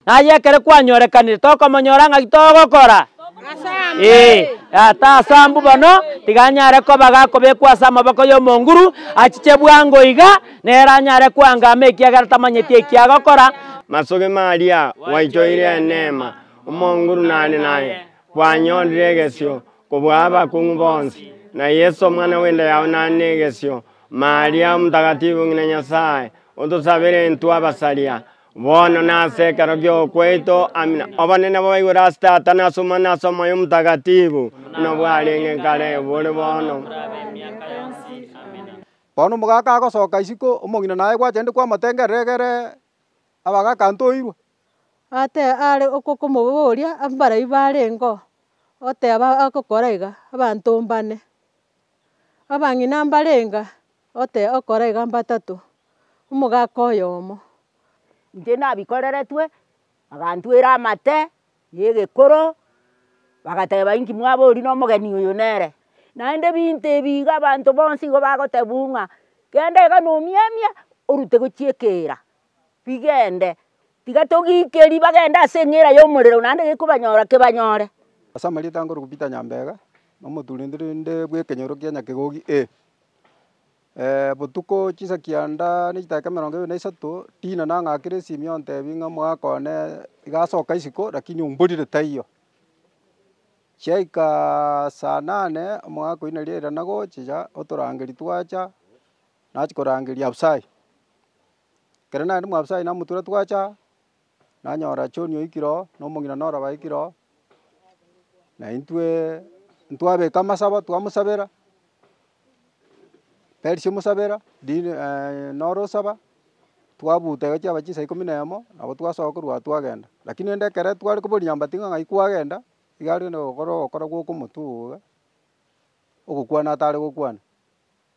Naye ekero kwanyorekanire tokomonyora ng'aki togokora? Ee, ata ase abwo bono tiganyare koba gakobekwa ase amaboko y'omonguru, achiche bwango iga, nere anyare koangama ekiagera tamanyeti eki agokora. Masoki Maria, gwaichoire eneema, omonguru nare naye, kwanyorire egesio kobua abakong'u bonsi, na Yeso omwana bw'enda yao nare negesio. Maria omotakatifu, ng'ina Nyasaye, otosabere intwe abasaria, Bono nase ekero gi'okwaito amina, obonene bobaigure ase Tata, na ase Omwana, na ase Omoyo Omotagatifu, buna bwarenge kare, bore bono, Bono omogaka agosoka isiko, omong'ina naye gwachenire kwamatengerera egere abagaka ntoirwe. Ate are okwo komoboria, Mbarai barengeo? Oteba agokora iga, Abanto mbane. Abang'ina mbarenga ote okora iga mbatato, omogaka oyomo. Inche nabikoreretwe, bagantwera amate ya egekoro, bagateba inki mwabori na omogeni oyo nere. Naende ebinto ebi iga abanto bonsi igo bagotebu ng'a kende iga na omiamia orute gochia ekeera. rigende, tiga togiike ribaga ende ase eng'era y'omorero, naende gekobanyora kebanyore. Ase amarieta nkorokwa Peter Nyambega, nomoturunturunde bw'ekenyoro kia Nyakegogi A. Botuko chisa kianda na echidaeka emerongo ebere na isato, Dina nang'akire esimi ontebie ng'a omogaka one iga asoka isiko lakini omborire taiyo. Chiaika saa nane, omogaka oina riairana gochia otorangeria twacha. Nachia korangeria Abisai. Ekero narenge mwa Abisai namotura twacha aa, nanyora John oikire oo, na omong'ina Nora baikire oo, na intwe ntwabeka amasabo twamosabera, Perisia omosabera, Dina Nora osaba, twabuta egachia yaba chinsa ikomi na emo, nabo twasoa korwa agwo twagenda. Lakini rende ekero tware koboria nyambati ng'a ng'ai kwagenda, iga arenge nogokora ogokora gw'okomotwe obo iga, ogokwana atare gokwana.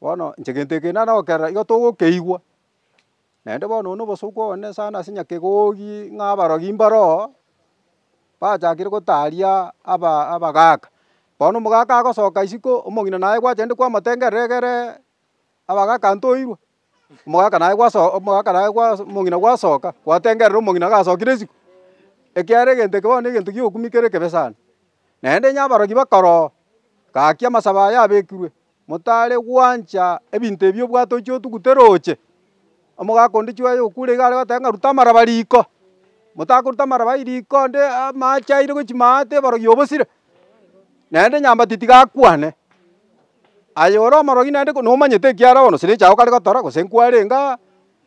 Bono inche gento eke nare gokerora igo togokeigwa, naende bono oyo na obosubwa obonene sana ase nyakegogi ng'a abarogi mbaro oo, bachakire gotaria aba abagaaka. Bono omogaka agosoka isiko, omong'ina naye gwachenire kwamotengerera egere abagaka ntoirwe, Omogaka naye gwasoka, omogaka naye gwasoka, omong'ina gwasoka, gwatengerera omong'ina gasokire isiko, ekiagera egento eke bono negento gi'obokumu kere ekebe sana. Naende onye abarogi bakora oo, gaki amasabo aya abekirwe, motare gwancha ebinto ebi obwate ochia otuguta eroche, omogaka onde chiaye okure iga are goteba ng'a ruta amaraba riko, motakoruta amaraba ai riko onde amache aire gochia maate abarogi obosire, naende nyambati tiga akwane. Aye ore omorogi naende nomanyete ekiare bono chire chiao kare gotora, gose nkwarenge aa,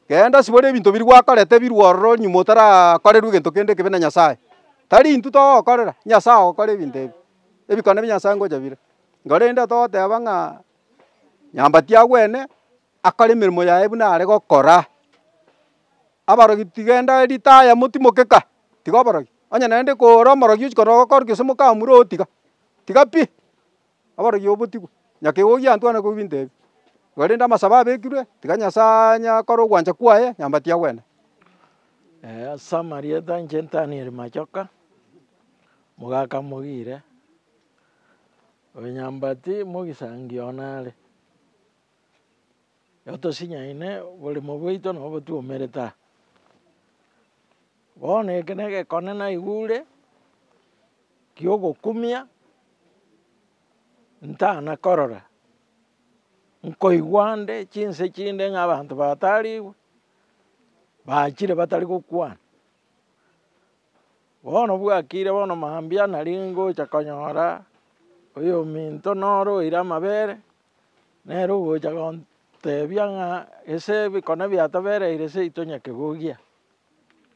genda sibore ebinto biria gwakorete birwe ororo nyuma otarakorerwa egento kende ekebe na Nyasae. Tari intwe togokorera, Nyasae ogokora ebinto ebi, ebikone bi Nyasae ngocha bire. Korende togoteba ng'a nyomba tiagwene, akore emeremo yaye buna are gokora. Abarogi tigenda ritaya motimokeka, tiga oborogi. Onye naende kore omorogi ochia korora ogokorokio gose mokamura ogotiga, tiga pi. Abarwoti babotigwe, nyakegoki gantwe gane koigwa ebinto ebio. Korende amasabo abekirwe, tiga Nyasaye anyakore ogwancha kwaye, nyomba tiagwene. Ase amarieta inche Danieli Machoka, mogaka mogire, oyo nyambati mogisangio one are, otosinyaine oboremo bwaito nabo twaumerete aa. Bono eke negekone naigure giogokumia, ntana korora, nkoigwa nde chinse chinde ng'a abanto batarigwe, bachire batari gokwana. Bono bwakire bono mambia nari ngocha konyora oyominto noro oire amabere, nere ogocha gontebia ng'a ase ebikone biatobereire seito nyakegogia.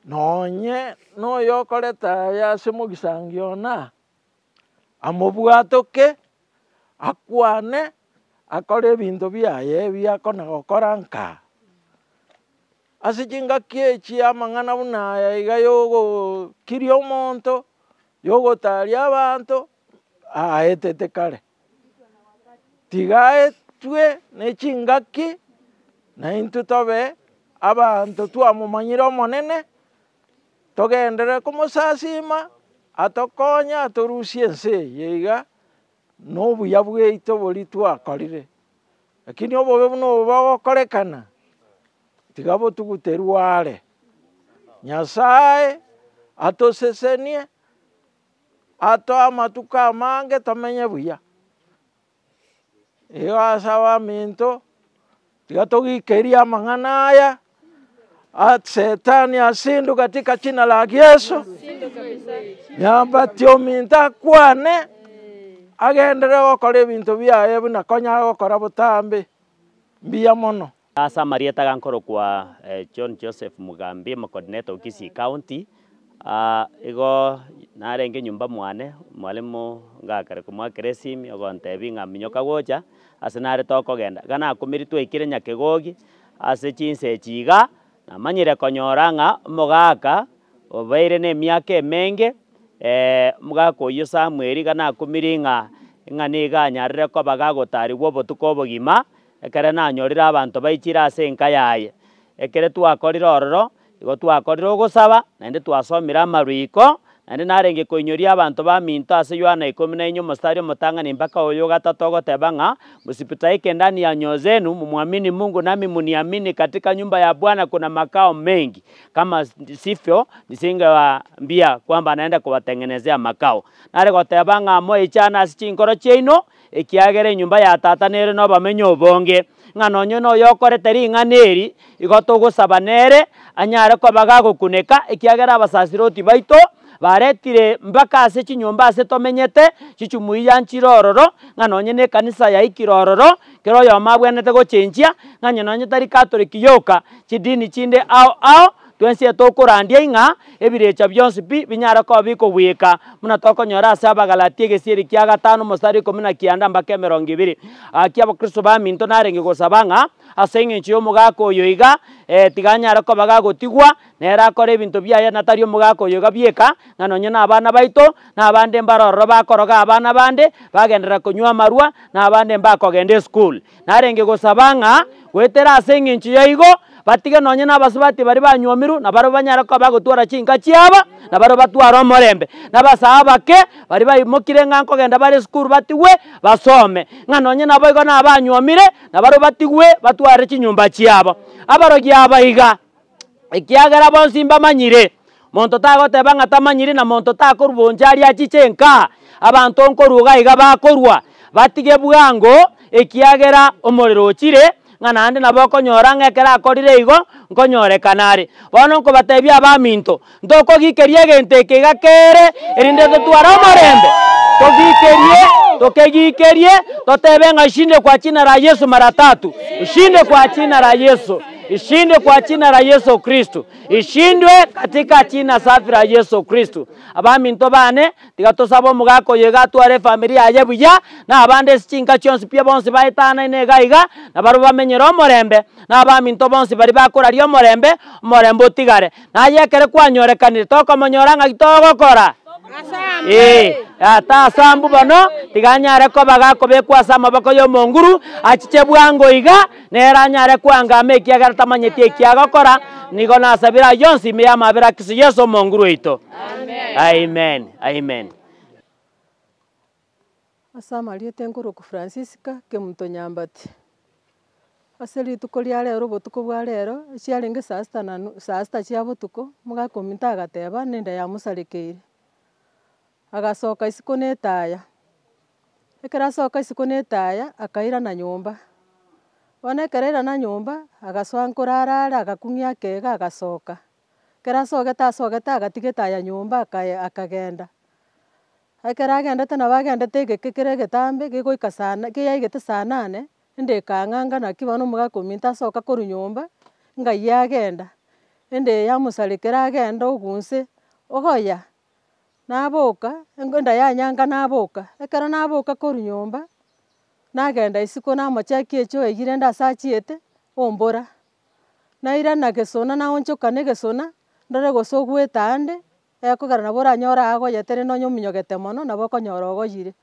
Nonye noyokorete aya ase mogisangio ona, amobwatoke, akwane, akore ebinto biaye ebi akona gokora nka. Ase chingaki echi amang'ana buna aya iga yogokiria omonto, yogotaria abanto, aetete kare. tigaetwe nechingaki, naintwe tobe abanto twamomanyire Omonene, togenderere komosasiima, atokonye atorusie ense eye iga, na obuya bwaito boria twakorire. Lakini obobe buna obo bogokorekana, tiga botugute rware, Nyasaye atosesenie. atoe amatuko amange tomenye buya. Igo ase abaminto, tiga togikerie amang'ana aya, Shetani asindwe katika jina la Yesu, nyabati ominto akwane, agenderere gokora ebinto biaye buna konyara gokora botambe, mbuya mono. Ase amarieta aya nkorokwa John Joseph Mugambi, Omokodineto o Kisii County. Igo narenge nyomba mwane, mwalimu ngakare komwakera esimi ogontebia ng'a minyoka gocha, ase nare tokogenda. Iga nakumeri twaikire Nyakegogi ase chinsa echi iga, namanyire konyora ng'a omogaka obeire na emiaka emenge, omogaka oyio Samuel, iga nakumeri ng'a niga anyarire koba gagotarigwa obotuko obogima, Ekere nanyorire abanto baichire ase enka yaye. Ekere twakorire ororo, igo twakorire ogosaba, naende twasomire amarwiko, naende narenge koinyoria abanto baminto ase Yohana ikomi na inye omositari omotang'ani mpaka oyo ogatato ogoteba ng'a, Msipitaike ndani ya nyoo zenu, mumwamini Mungu nami muniamini, katika nyumba ya Bwana kuna makao mengi, kama sivyo nisingewaambia kwamba naenda kubateng'enezea makao. Nare goteba ng'a moichane ase chinkoro chiaino, Ekiagera enyomba ya Tata nere nobamenyo obonge, ng'a nonye noyokorete ring'ana eri igo togosaba nere, anyare koba gagokuneka, ekiagera abasasiroti baito baretire mpaka ase chinyomba ase tomenyete chichumui ya nchire ororo, ng'a nonye nekanisa yaikire ororo, kera oyomo abwenerete gochenchia, ng'a onye nonye tari Katoliki yoka, chidini chinde ao ao, Twensie tokorandia ng'a ebirecha bionsi pi binyare koba bikogwika, buna tokonyora ase Abagalatia egesieri kia gatano omosare ikomi na kianda mbaka emerongo ebere. Gaki Abakristo baminto narenge gosaba ng'a ase engencho y'omogaka oyo iga, ee, tiga anyare koba gagotigwa, nere akore ebinto biaye na tari omogaka oyo iga bweka, ng'a nonye nabana baito, na abande mbare ororo bakoroga abana bande, bagenderera konywa amarwa, na abande mbakogenda esukuru. Narenge gosaba ng'a goetera ase engencho yaigo, batige nonye nabasubati baria banywomirwe, na barabwo banyare koba bagotwora chinka chiaba, na barabwo batware omorembe. Na abasae abake, baria baimokire ng'a nkogenda bare esukuru batigwe basome, ng'a nonye naboigo nabanyuomire, na barabwo batigwe batware chinyomba chiabo. Abarogi aba iga. ekiagera bonsi mbamanyire. Monto tagoteba ng'a tamanyiri na monto takorwa bonsi aria achiche enka. Abanto nkorwa iga iga bakorwa, batige bwango, ekiagera omorero ochire, ng'a naende nabo okonyora ng'a ekero akorire igo, nkonyorekana are. Bono nkobatebia abaminto, Ntokogikeria egento ekiiga kere, erinde totware omorembe. Togikerie, tokegikerie, totebe ng'a ishinde kwa china ra Yesu mara tatu. Ishinde kwa china ra Yesu. Ishinde kwa china ra Yesu Kristo. Ishindwe katika china safi ra Yesu Kristo. Abaminto bane, tiga tosabe omogaka oyo iga atware efamiri yaye buya, na abande ase chinka chionsi pi bonsi baetanane iga iga, na barwe bamenyere omorembe, na abaminto bonsi baria bakoraria omorembe, omorembe otigare. Naye ekero kwanyorekanire tokomonyora ng'aki togokora. Ee, Tata ase aambu bono, tiga anyare koba gakobekwa ase amaboko y'omonguru, achiche bwango iga, nere anyare koangama ekiagera tamanyeti eki agokora, nigo nasabire ayio onsi ime y'amabera a Kristo Yeso Omonguru oito. Amen. Amen. Ase amarieta enkorokwa Francisca Kemuntonyambati. Ase rituko ria rero obotuko bwa rero, chiarenge saa sita na nu- saa sita chia botuko, omogaka ominto agateba nende yamosarekeire, agasoka isiko na etaya. Ekero asoka isiko na etaya, akairana nyomba. Bono ekero airana nyomba, agasoa nkoro arare agakung'ia akega agasoka. Ekero asogete asogete agatiga etaya nyomba akaye- akagenda. Ekero agendete nabo agendete egeke kere egetambe gegoika saa na keyaigete saa nane, ende ekang'a ng'a naki bono omogaka ominto asoka korwa nyomba, ng'ayie agenda. Ende yamosarekera agenda ogunse, ogoya, naboka, engo enda yanyanga naboka. Ekero naboka korwa nyomba, nagenda isiko namochekia echi oigire ende ase achiete, ombora. Nairana gesona naonchoka na egesona, ndore gose ogwete ande, Ekogera nabo oranyore aagoyete, rende onye ominyogete mono, nabo okonyora ogoyire.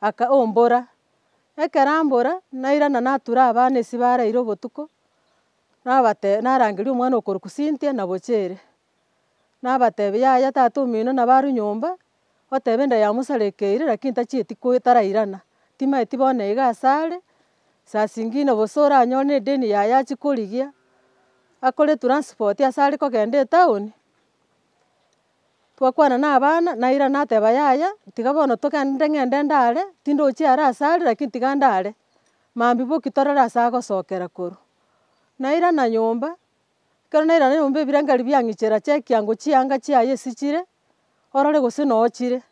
Aka, ombora. Ekero ambora, nairana natura abana ase baraire obotuko, nabatebia, narangeria omwana okorokwa Cynthia na Bochere. Nabatebia, yaya tata omino nabo arwe nyomba, oteba enda yamosarekeire, lakini tachieti ko tarairana. Timaeti bono iga ase are, saa singine gose oranyore na edeni yaye achie korigia, akore transport ase are kogenda etown, Twakwana na abana, naira nateba yaya, tiga bono togende ng'ende ndare, tindochia are ase are lakini tiga ndare, mambia boki torore ase agosokera korwa. Nairana nyomba, ekero nairana nyomba ebirengererio biang'ichera chia ekiango chianga chiaye esichire, orore gose nochire.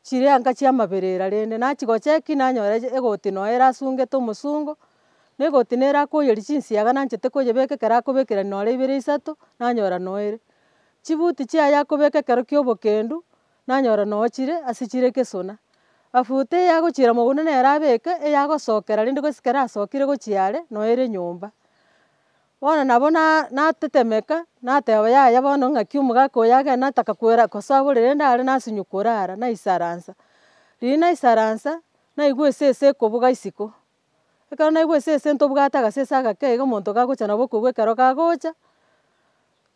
Chirenga chi'amaberera rende nachigocheki nanyora egoti noyo erasungete omosungo, na egoti nere akoyeria chinsiaga nanchete koyebeka ekero akobekerania nore ibere isato nanyora noere. Chibuti chiaye akobeka ekero ki'obokendu nanyora noyo chire ase chire gesona. Mafuta eye agochiira mogunda nere abeke eyagosokera rende gose ekero asokire gochia are noyo ere nyomba. Bono nabo natetemeka, nateba, Yaya bono ng'aki omogaka oyo agende nataka koira kosa abore, rende are nasinyo korara, naisaransa. Riria naisaransa, naigwa esese ekobuga isiko. Ekero naigwa esese ntobugate agasese agake iga omonto gagocha nabo okogwa ekero gagocha,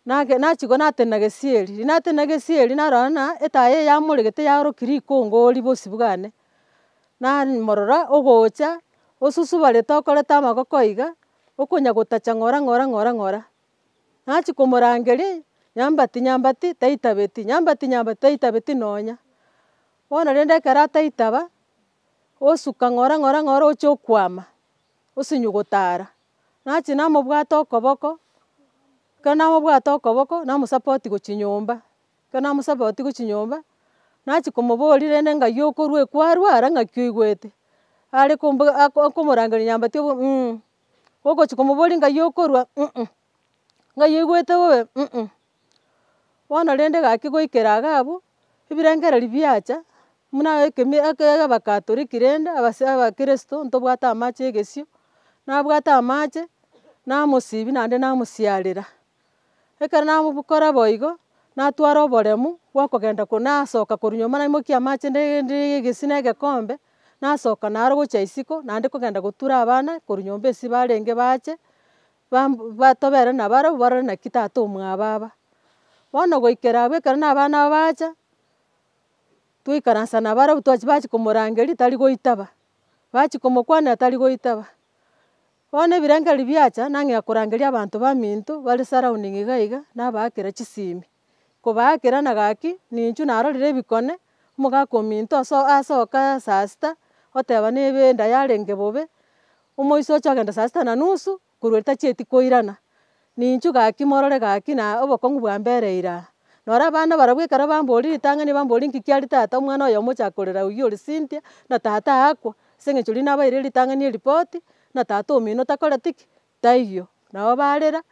nage nachigwa natenena gesieri. Riria natenena gesieri narora ng'a etaya eye yamoregete yaoroki rikongori bosio bwane, namorora ogocha osusubarete okorete amagoko iga. Okonya gotacha ng'ora, ng'ora, ng'ora, ng'ora. Nachia komorangeria, nyambati, nyambati, taitabeti, nyambati, nyambati, taitabeti nonya. Bono rende ekero ataitaba, osuka ng'ora, ng'ora, ng'ora ochia okwama, osinyugute ara. Nachia namobwata okoboko, ekero namobwata okoboko, namosapotia gochia nyomba. Ekero namosabe otigwe chinyomba, nachia komoboria rende ng'ai okorwa ekwarwara ng'aki oigwete. Are kombo akomorangeria nyambati obo mm, ogochia komoboria ng'ai okorwa mm, ng'ai oigwete bobe mm. Bono rende gaki goikera iga abwo, ebirengererio biacha, buna ekemi eke abakatoliki rende abase abakirisito ntobwate amache ya egesio, nabwate amache, namosibia naende namosiarera. Ekero nabokora boigo, natwara oboremu bw'okogenda korwa nasoka korwa nyomba naimokia amache ndegende egesina egekombe, nasoka naro gochia isiko naende kogenda gotura abana korwa nyomba esiko barenge bache, ba tobere na barabwo barore naki tata omwababa. Bono goikera abwo ekero na abana aba bacha, twaikaransa na barabwo twachia bachia komorangeria tari goitaba, bachia komokwanera tari goitaba. Bono ebirengeri biacha, nang'ea korangeria abanto baminto bare surrounding iga iga, nabaakera chisimi. Kobaakera na gaki, ninchuo narorire ebikone, omogaka ominto aso asoka saa sita, oteba nebe enda yarenge bobe, omoiso oche ogenda saa sita na nusu, korwa ritachieti koirana. Ninchu gaki, morore gaki, na obokong'u bwa mbere eira. Noro abana barabwo ekero bamboorire ritang'ani, bamboria, Inki kiaria tata omwana oyo omochake korera oyio ore Cynthia, buna tata aakwa? Ase eng'encho riria nabaeire ritang'ani eripoti, buna tata omino takoreti ki? Taiyo. Nabo barera.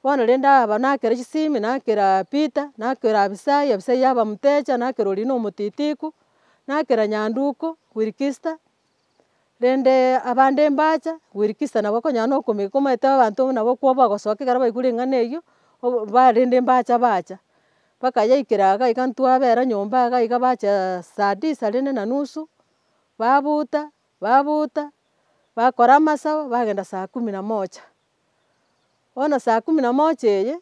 Bono rende aba nakera chisimi, nakera Peter, nakera Abisai, Abisai yaba motecha, nakera oria na omotitiku, nakera nyanduko, Wilkista, Rende abande mbacha goirikista nabo okonyora na okomegeka omanyete abanto nabo okwo bagosoka ekero baigure eng'ana eyio, obo ba rende mbacha bacha. Mpaka yaikera iga iga ntwabera nyomba iga iga bacha saa disa rende na nusu, babuuta, babuuta, bakora amasabo, bagenda saa kumi na moja. Bono saa kumi na moja eye.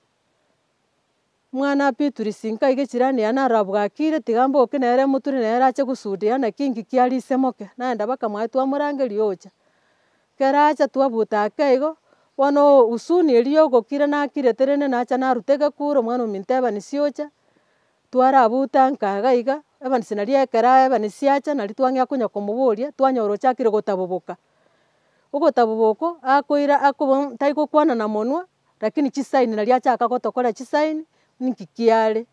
Omwana apiturisi, nkaige chirani yane aro abwakire, tiga mboke nere moture nere ache gosudia, naki inki kiaria ise moke? Naye ndabaka mwaye twamorangeria ocha. Ekero acha twabuta ake igo, bono husuni eria yogokira nakirete rende nacha naruta egekure omwana ominto Evanisi ocha, twarabutanka iga iga, Evanisi naria ekero Evanisi acha naria twang'ea konya komoboria, twanyora ochakire gotaboboka. Ogotaboboka okoira akoba, tari gokwana na monwa, Lakini chisaini na riachaka gotokora chisaini, ninki kiare?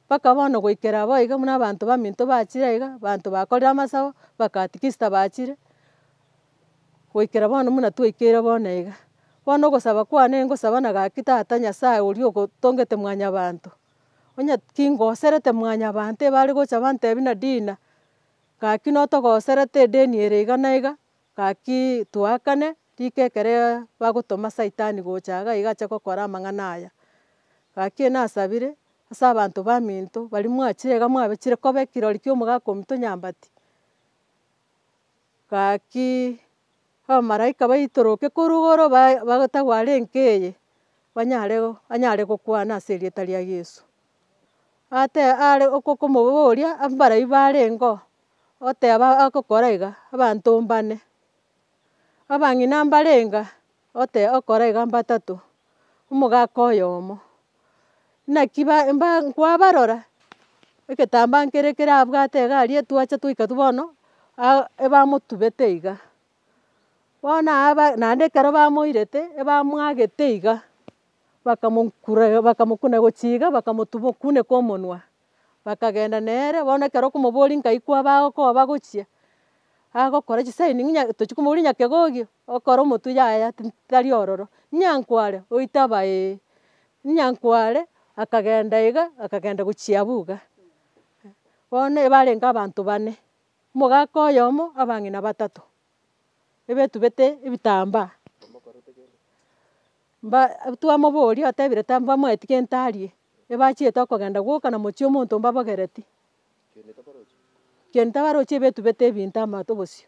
Mpaka bono goikera abwo iga buna abanto baminto bachire aiga, abanto bakorire amasabo, bakatikista bachire, goikera bono buna twaikeire bono iga. Bono ogosaba kwane ngosaba na gaki Tata Nyasae oria ogotongete mwanyabanto, onye kingoserete mwanyabanto ebare gocha bantebi nadina, gaki notogoserete edeni ere iga na iga, Gaki toakane, rika ekero bagotoma Saitani gocha iga iga ache gokora amang'ana aya. Gaki nasabire ase abanto baminto baria mwachire iga mwabechire koba ekirori ki'omogaka ominto nyambati. Gaki abamalaika baitoroke korwa igoro batagware enka eye banyare anyare gokwana ase erieta ria Yeso. Ate are okomoboria mbaria barengeo. oteba agokora iga, abanto mbane, abang'ina mbarenga ote okora iga mbatato, omogaka oyomo. Naki ba mba nkwabarora, egetambaa nkere ekero abwate iga aria etwacha twaika tu bono, a- ebamotubete iga. Bono aba naende ekero bamoirete, ebamwagete iga, bakamonkure bakamokuna gochia iga bakamotuba okuneka omonwa. bakagenda nere, bono ekero okomoboria nkaikwa abago ko bagochia, agokora chisaini ng'a nya tochi komoboria nyakegogi, okore omotwe yaya tin tari ororo, nyankware oite aba ee, nyankware akagenda iga, akagenda gochia abwo iga. Bono ebarenge abanto bane, omogaka oyomo, abang'ina batato. ebetubete ebitambaa, mba twamoboria otebire tambamoeti gento arie, ebachiete okogenda gwoka na mochie omonto mbabogereti, kende tabarochi ebetubete ebinto amato bosio.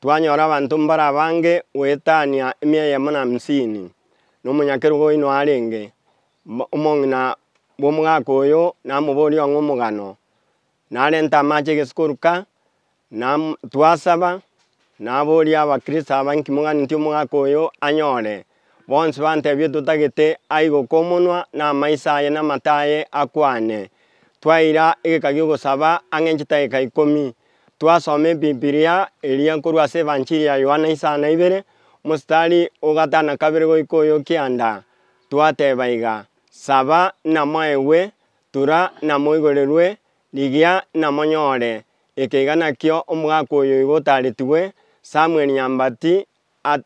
Twanyora abanto mbare abange goetania emia eyemo na hamsini, na omonyakerogo oino arenge, omong'ina bw'omogaka oyo namoboria ong'e omogano, narente amache egesikoruka, na twasaba, naboria abakristo aba, Inki moganetie omogaka oyo anyore? Bonsi bantebie totagete aigo komonwa na amaiso aye na amato aye akwane. Twaira egeka gi'ogosaba ang'e nchitaeka ikomi. Twasoma ebibilia eria korwa ase evanchiri ya Yohana isano na ibere, omositari o gatana kabere goika oyo kianda. Twateba iga, Saba na moegwe, tura na moigorerwe, rigia na monyore. Ekeiga nakio omogaka oyo igo otaretigwe, Samuel Nyambati,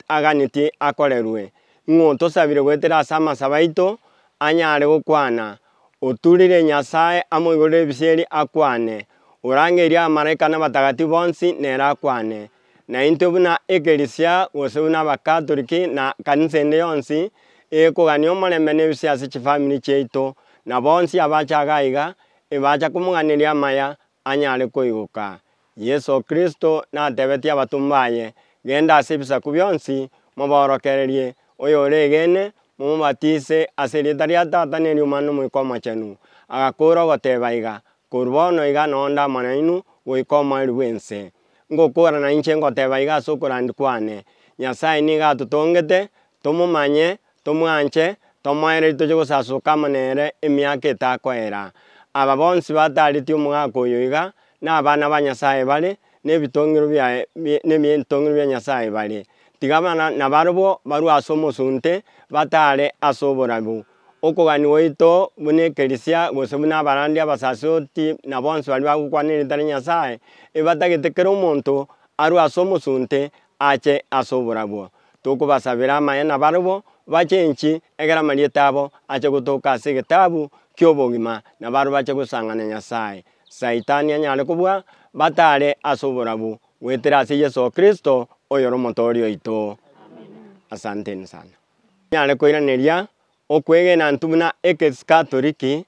aganeti akorerwe, ng'a otosabire goetera ase amasabo aito, anyare gokwana, Oturire Nyasae amoigorere ebisieri akwane, orangeirie abamalaika na abatagatifu bonsi nere akwane. Na intwe buna ekerisia, gose buna abakatoriki na kanisa ende yonsi, egekogania omorembe na ebisio ase chifamiri chiaito, na bonsi abache agaiga, ebacha komong'aneria amaya, anyare koigoka. Yeso Kristo natebetie abatomwa baye, Genda ase ebisaku bionsi, mobaorokererie, oyoregeene, momobatise ase erieta ria Tata na eri'Omwana na Omoika Omochenu. Agakoora ogoteba iga, Korwa bono iga nonde amo nainwe goika omoerio bw'ense. Ngokoora nainche ngoteba iga ase okorandia kwane, Nyasae nigo atotongete, tomomanye, tomwanche, tomoererie toche gosasuka amo nere emiaka etakoera. Aba bonsi bataaretie omogaka oyo iga, nabana ba Nyasae bare, nebitongero nebitongero bia Nyasae bare. Tiga abana nabarabwo barue ase omosunte, bataare ase oborabu. Okogania gwaito buna ekerisia, gose buna abarandi abasasioti, na bonsi baria bagokwana erita ria Nyasae, ebatagete kera omonto arue ase omosunte ache ase oborabwo. Tokobasabera amaye nabarabwo bache inchi, egera amarieta abo ache gotoka ase egetabu ki'obogima, na barabwo bache gosang'ana Nyasae. Saitani anyare kobua batare ase oborabu goetera ase Yeso Kristo oyore Omotoori oito. Asanteni sana. Nyare koiraneria Okwegena intwe buna Ekesikatoliki,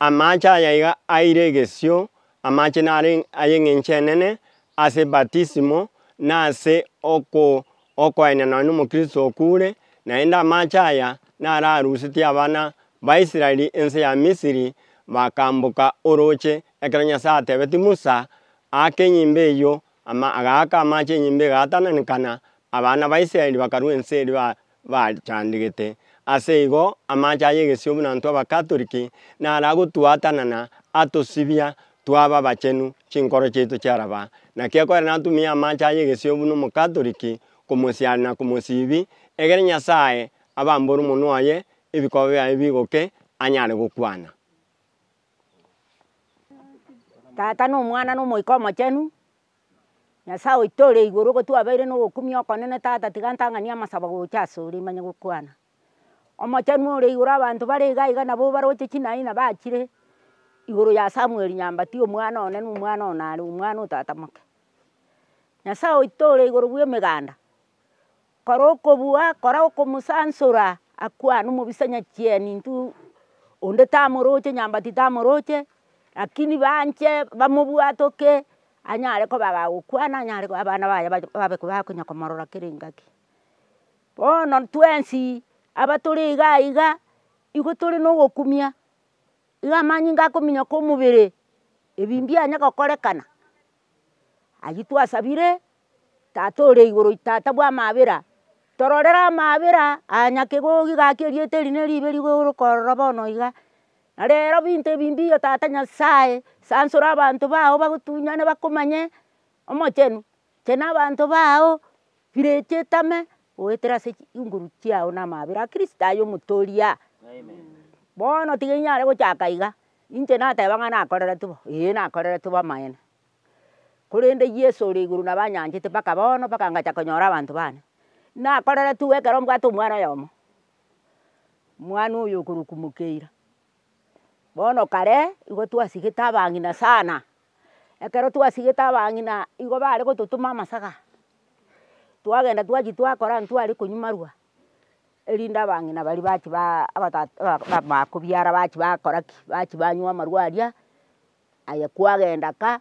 Amache aya iga aeire egesio, Amache naro ay'engencho enene, ase batisimo, na ase okoaina nonya nomokristo okure, naende amache aya naro arusetie abana baisraeli ense ya Misiri bakamboka oroche ekero Nyasae atebetie Musa, Aaka enyimba eyio, agaaka amache enyimba egaatananekana, abana baisraeli bakarua ense eria bachandigete. Ase igo, amache aya egesio buna intwe Abakatoliki naro agotwaatana na atosibia twaba abachenu, chinkoro chiaito chiaraba. Naki ekogera natumie amache aya egesio buna Omokatoliki komosiaria na komosiibi, egere Nyasae abambore omonwa oye, ebikoba biaye bigoke, anyare gokwana. Tata, na Omwana, na Omoika Omochenu, Nyasaye oito ore igoro nigo twabeire na obokumia okonene tata tiga ntang'ani amasabo gocha ase ore manye gokwana. Omochenu ore igoro abanto bare iga iga nabo baroche chinayi na bachire igoro ya Samuel Nyambati omwana one na omwana one are omwana o tata moke. Nyasaye oito ore igoro bwa emeganda Kora okobua, kora okomosansora, akwane omobisa nyachieni intwe onde tamoroche nyambati tamoroche lakini banche bamobwate oke anyare koba agagokwana anyare koba abana baye babe bakonya komorora kera engaki. Bono twensi abatore iga iga igo tore na ogokumia iga amanyinga akominyoka omobere ebi mbianye gokorekana. Ayio twasabire tata ore igoro tata bwa amabera tororere amabera aya nyakegogi gaki erieta eri ne ribe rigorokorora bono iga na rero binto ebi mbiyo tata nyasaye sansora abanto bao bagotunyane bakomanye omochenu inche na abanto bao chireti etame goetera ase chinguru chiao na amabera a kristo aye omotoria bono tiga inyare gochaka iga. Inche nateba ng'a nakoreretu bo, ee nakoreretu bo amaene, korende Yeso ore igoro nabo anyanchete mpaka bono mpaka ngacha konyora abanto bane, nakoreretu ekero mbwate omwana oyomo, mwana oyo okorokwa mokeira, bono kare nigo twasigete abang'ina sana, ekero twasigete abang'ina nigo bare gototoma amasaga, twagenda twachi twakora ntware konywa amarwa. erinde abang'ina baria bachi baa abatata aba- ba bakobiara bachi bakora ki, bachi banywa amarwa aria, aye kwagenda ka,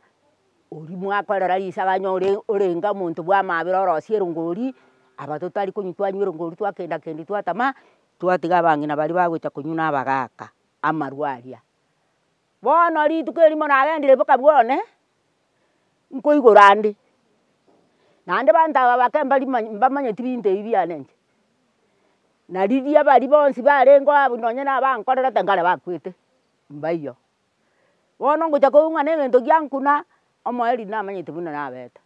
oria mwakorera risaga onye ore orenge omonto bwa mabera orosie erongori, aba totari konywa twanywa erongori twakenda kendi twatama, twatiga abang'ina baria bagocha konywa na abagaka amarwa aria. Bono rituko erimo nagenderire boka bwone, nkoigora ande, naende abanto aba bake mbari mbamanyeti binto ebi biane inche. Na riria baria bonsi barenge abwo nonye na abankorerete nkare bakwete, mbaiyo. Bono ngocha koung'ana egento giankuna, omoerio namanyete buna nabete.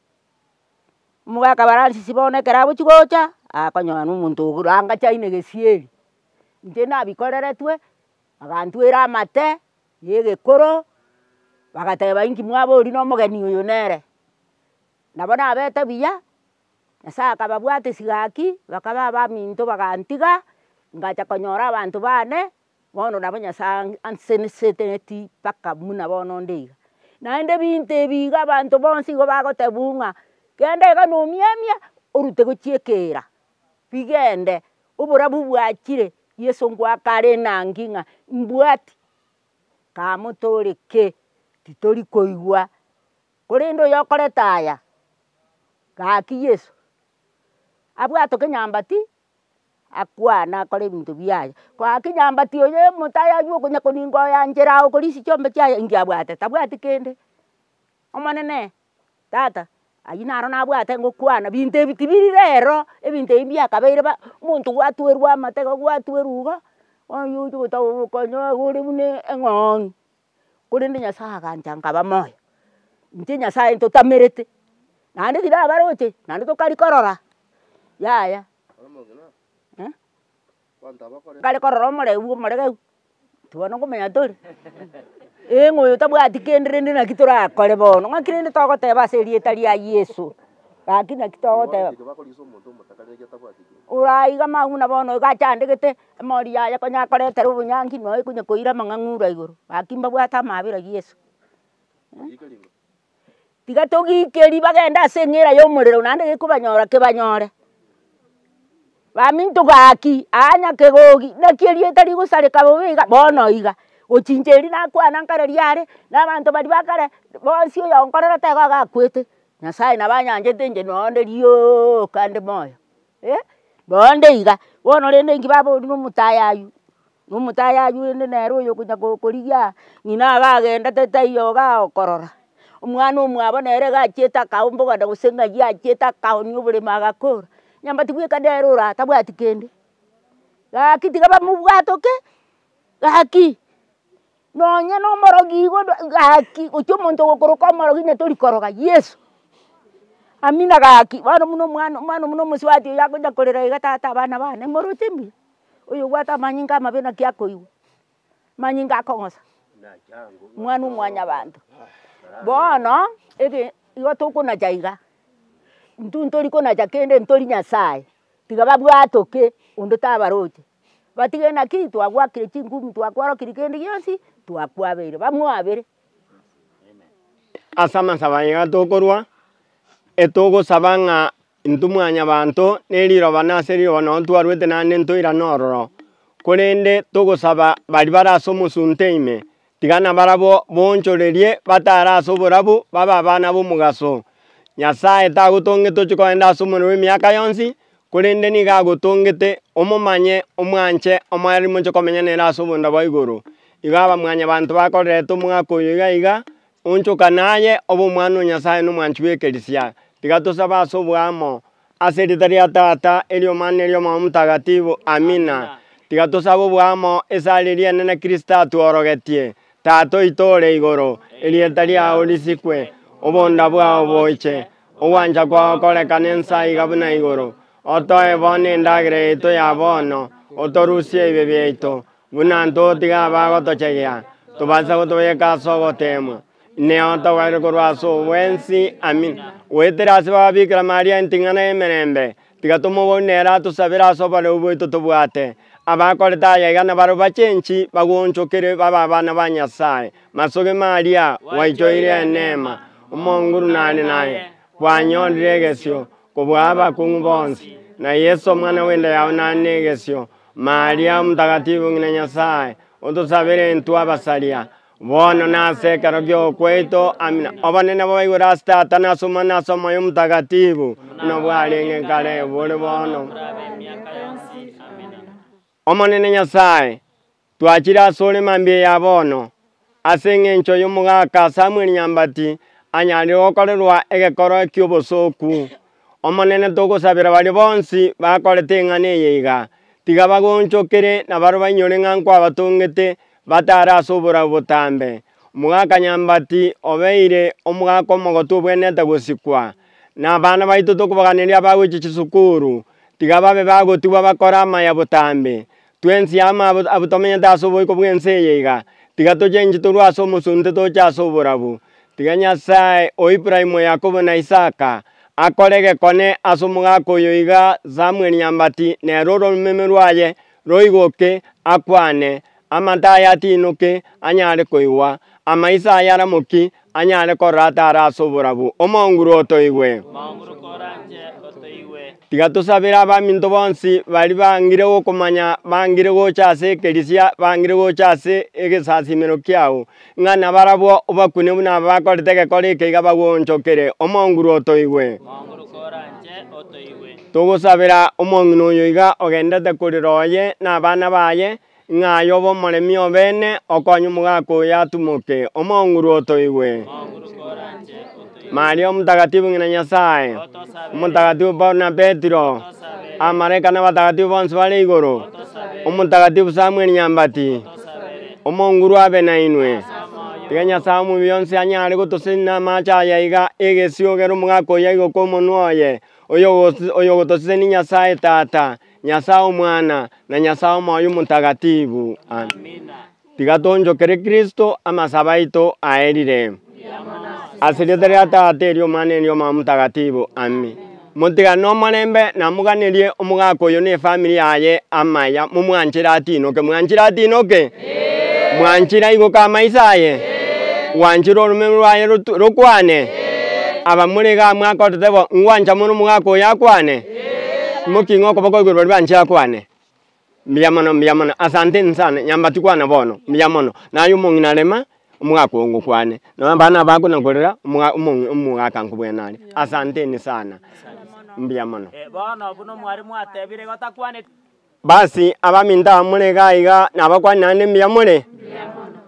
Omogakabaransi bono ekero agochi gocha, akonyora na omonto oranga chai na egesieri, inche nabikoreretwe, Bagantwera amate yegekoro, bagateba inki mwabo oria na omogeni oyo nere, nabo nabete buya, Nyasaye akababwatesia gaki, bakaba abaminto bagantiga, ngacha konyora abanto bane, bono nabo Nyasaye anseneseteti mpaka buna bono onde iga. Naende ebinto ebi iga abanto bonsi igo bagoteba buna ng'a, genda iga na omiamia orute gochia ekeira. rigende, oborabu bwachire, Yeso ngoakare nang'gi ng'a mbwati kamotore ki? titori koigwa, korende oyo okorete aya, gaki Yeso abwate kenyambati akwane akore ebinto biaye, gaki nyambati oyo omotayo aywo okonya koninga oyanchera agokora echio chiombe chiaye inki abwate? tabwati kende, omonene. Tata, ayio naro nabwate ngokwana, binto ebi tibiri rero, ebinto ebi mbiakabeire ba, omonto gwatuerwa amateka, gwatuerwa iga, oyio ochi gotaka obokonyoa iga ore buna eng'oong'i, korende nyasaye agancha nkaba moyo, inche nyasaye ntotamerete, naende riria abaroche naende tokari korora, yaya. Kare korora omorebi bw'omoregeru nonto bono nkomanya tori ee ng'a oyo tabwati kende rende naki torakore bono ng'aki rende togoteba ase erieta ria Yeso gaki naki togoteba. Oraiga mambia buna bono iga achandegete emori yaye konya akoretera obonyangi nonya konya koira amang'ang'ura igoro gaki mbabwate amaabera Yeso. Tiga togiikerie bagende ase eng'era y'omorero naende gekobanyora kebanyore, baminto gaki aa nyakegogi naki erieta rigosareka bobe iga bono iga, ochinche erio nakwana nkare riare na abanto baria ba kare bonsi oyonkorera taigo iga akwete, Nyasaye nabo anyanchete inche noo onde rioka nde moyo eh, noo onde iga, bono rende inki baboria na omotayayi. Na omotayi ayurende nere oyo okonya korigia ng'ina iga agendete taiyo iga agokorora, omwana omwabo nere iga achiete akaombogana gose ng'ai achiete akaoonia oboremo agakora, onye mbati bweka nere ore atabwati kende, gaki tiga bamobwatoke gaki. Nonya nomorogi igo gaki gochi omonto ogokoroka omorogi natori koroga yeso, amina gaki bono buna omwana omwana buna omosubati oyo akocha korera iga tata abana bane moroche mbuya oyo obwate amanyinga amabe naki akoigwa manyinga akong'osa omwana omwanyabanto bono ege igo tokonacha iga intwe tori konacha kende ntori nyasaye tiga babwatoke onde tabaroche batige naki twagwakire chingumi twakwarokiri kende gionsi twakwabeire bamwabere. Ase amasabo aya iga tokorwa, etogosaba ng'a intwe mwanyabanto na eriroba na ase riroba nonye ntwarwete naende ntoirane ororo, korende togosaba baria bare ase omosunte ime, Tiga nabarabwo moonchorerie batare ase oborabu, babe abana b'omogaso. Nyasae tagotongete ochie kogenda ase omorero bw'emiaka yonsi, korende nigo agotongete omomanye, omwanche, omoereri moche komenya nere ase obonda bwa igoro. Igo abamwanyabanto bakorerete omogaka oyo iga iga, Onchoka naye, obe omwana o Nyasae na omwanchi bw'ekerisia. Tiga tosabe ase oboamo. Ase erieta ria Tata, eriomana na eri'Omwoyo Omotagatifu. Amina. Tiga tosabe oboamo ase areria enene Kristo atworogetie. Tata oito ore igoro, erieta riao risikwe, obonda bwao boche, ogwancha kwao korekane ense aiga buna igoro. Otoe bono endagera yaito ya bono, otorusie ebibe biaito, Buna ntotiga abagotochegea, tobaisa gotoyeka ase ogoteemwa, ineo togwenerete korwa ase obwensi. Amina. Goetera ase Baba Bikira Maria enting'ana y'emerembe, tiga tomoborie nere atosabere ase oboreu bwaito tobwate. Abakorete aya iga nabarabwo bachenchi, bagoonchokire, babe abana ba Nyasae. Masoge Maria, gwaichoire eneema, Omonguru nare naye, kwanyorire egesio. Kobua abakong'u bonsi, na Yeso omwana bw'enda yao nare negesio, Maria omotagatifu ng'ina Nyasae, otosabere intwe abasaria, bono na ase ekero gi'okwaito. Amina. Obonene bobe igoro ase Tata, na ase Omwana, na ase Omoyo Omotagatifu, buna bwarenge kare, bore bono, na buna bobe miaka yonsi. Amina. Omonene Nyasae, Twachire asore mambia ya bono, ase engencho y'omogaka Samuel Nyambati anyarire gokorerwa egekoro ki'obosooku. Omonene togosabera baria bonsi bakorete eng'ana eye iga, tiga bagonchokere na barwe bainyore ng'a nkwabatongete batare ase oborabu botambe. Omogaka Nyambati obeire omogaka omogotu obwenerete gosikwa. Na abana baito tokobaganeria abagochia chisukuru, tiga babe bagotigwa bakore amaya botambe. Twensi amo abwo tomenyete ase oboiko bw'ense eye iga, tiga tochenji torue ase omosunte toche ase oborabu, tiga Nyasae o Ibrahimu, Yakobo, na Isaka akore egekone ase omogaka oyo iga Samueli nyambati, na ere oromeme rwaye roigoke, akwane, Amato aye atiinoke, anyare koigwa, amaiso aye aramoki, Anyare korora atare ase oborabu, omounguru otoigwe. Omounguru koranche otoigwe. Tiga tosabere abaminto bonsi baria bangire gokomanya, bangire gocha ase ekerisia, bangire gocha ase egesasimero kiao, ng'a nabarabwo obakune buna aba bakorete egekore eke iga bagwonchokere. Omounguru otoigwe. Omounguru koranche otoigwe. Togosabera omong'ina oyo iga ogenderete korera oye na abana baye, Ng'a aye obe omoremi o beene, okonye omogaka oyo atumoke, omong'uru otoigwe. Maria Omotakatifu ng'ina Nyasae, Omotakatifu Paulo na Petero, Abamalaika na abatagatifu bonsi bare igoro, Omotakatifu Samueli Nyambati, omong'uru abe nainwe. Tiga Nyasae omobiyo onsi anyare gotosenyia namaache aya aiga, egesiogera omogaka oyo aigoka omonwa oye, oyo ogotosesenia Nyasae Tata, Nyasae Omwana, na Nyasae Omoyo Omotagatifu. Amina. Tiga tonchokere Kristo amasabo aito aerire. Ase rieta ria Tata eri Omwana eri Omoyo Omotagatifu. Ami. Motigane omorembe na moganerie omogaka oyo ne family yaye amaya momwanchire atinoke. Mwanchire atinoke? Mwanchire aigoke amaiso aye? Gwanchire oromeme rwaye rokwane? Abamorega amo akorete bo, ngwancha mono omogaka oyo akwane? Nboki ng'a okoboko igoro baria banchia kwane, Mbuya mono, mbuya mono, asanteni sana, nyambati kwana bono, mbuya mono. Naye omong'ina rema, omogaka oo ngokwane, nonya abana aba akona korera, omoga omong'i omogaka nkobwene are, asanteni sana, mbuya mono. Bono buna mware mwatebire gotakwaneti. Basi, abaminto aba more iga iga nabakwane naende mbuya more? Mbuya mono.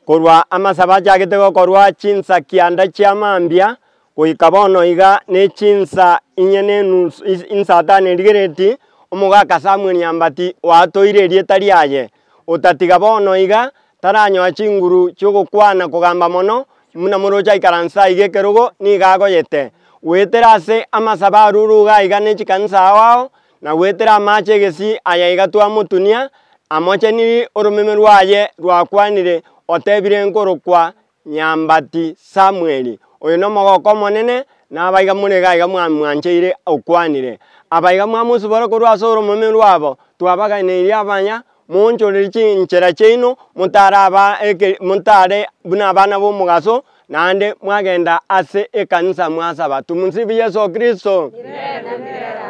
Korwa amasabo achagete gokorwa chinsa kianda chia mambia goika bono iga ne chinsa inye ne enusu insa ata ne rigereti, omogaka Samuel Nyambati oatoire erieta riaye, otatiga bono iga taranyoa chinguru chi'ogokwana kogamba mono buna moroche aikaranse aiga ekerogo nigo agoyete. Goetera ase amasabo arure iga iga ne chikanisa ao ao, na gwetera amaache egesii aya iga twamotunia, amochenirie oromeme rwaye rwakwanire otebire nkorokwa Nyambati Samueli, oyo nomogoko omonene, naba iga more iga iga mwamwancheire okwanire. Aba iga mwamosibora korwa ase oromeme rwabo, twabaganeiri abanya, Moonchorerie chinchera chiaino, motaraba eke, motare buna abana b'omogaso, naende mwagenda ase ekanisa mwasaba. Tumsifu Yesu Kristo.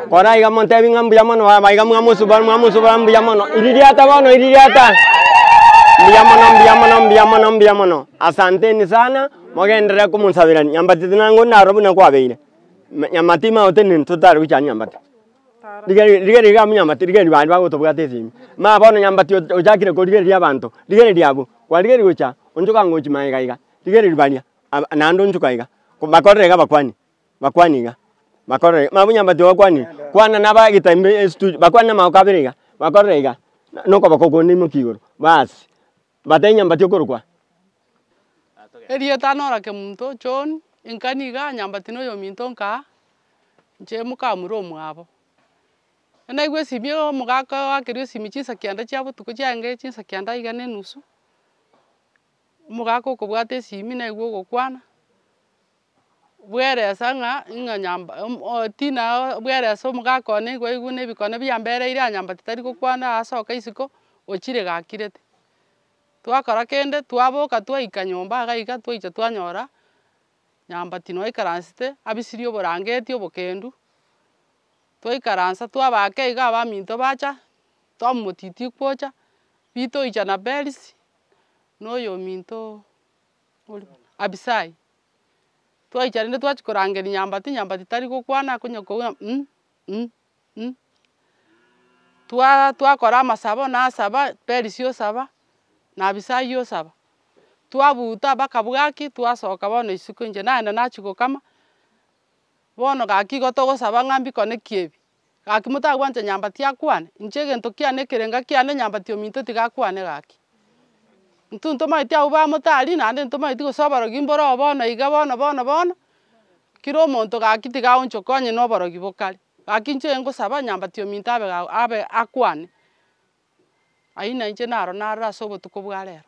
Kora iga motebi ng'a mbuya mono baba iga mwamusubora mwamusubora mbuya mono iri riata bono iri riata mbuya mono mbuya mono mbuya mono mbuya mono asanteni sana mogenderere komosaberania nyambati tinangondi naro buna kwabeire Me- nyamati magotenena totari gochia nyambati Rigereria, rigereria iga monyamate, rigereria bande bagotobwate ase ime. Mama bono nyambati o- ochakire korigereria abanto, rigereria abwo, kwarigereria gocha onchoka ngochi maega iga, rigereria baria aba naende onchoka iga, bakorire iga bakwane, bakwane iga, bakorire iga. Mama monyamati ogo okwane, kwana naba egetambe estudio, bakwane na amagoko abere iga, bakorire iga, na- nokoboko okonde imokia igoro, baasi. Bata enyambati okorokwa. Erieta nora kemunto, John, inka niga nyambati noyominto nka nche mokamura omwabo. Naigwe esimi omogaka oakeria esimi chinsa kianda chia botuko chiaenge chinsa kianda iga nenusu, omogaka okobwata esimi naigwe ogokwana. bweresa ng'a ing'a nyamba Tina bweresa omogaka one nigo aigure ebikone biambereire aa nyambati tari gokwana aa soka isiko ochire gakirete. Twakora kende twaboka twaika nyomba iga iga twaicha twanyora nyambati noo aikaransete abisirie oborangeti obokendu, twaikaransa twabake iga abaminto bacha twamomotitia gocha ritoicha na berisi na oyominto. Abisai, twaicha rende twachia korangeria nyambati, nyambati tari gokwana oko onye kogwa um um um twa twakora amasabo nasaba, perisia osaba, na abisai osaba, twabuta mpaka bwaki twasoka bono isiko inche naenda nachia gokama, bono gaki igo togosaba ng'a mbikone kiebi. Gaki motagwancha nyamba tiakwane, inche egento kiane ekerenga kiane nyamba tiominto tigakwane gaki. Intwe ntomageti abwo bamotari naende ntomageti gose oborogi mbore oo bono iga bono bono bono, kira omonto gaki tigaonchoka onye na oborogi bokare. Gaki inche engosaba nyamba tiominto abe ga abe akwane. Ayio nainche naro naroro ase obotuko bwa rero.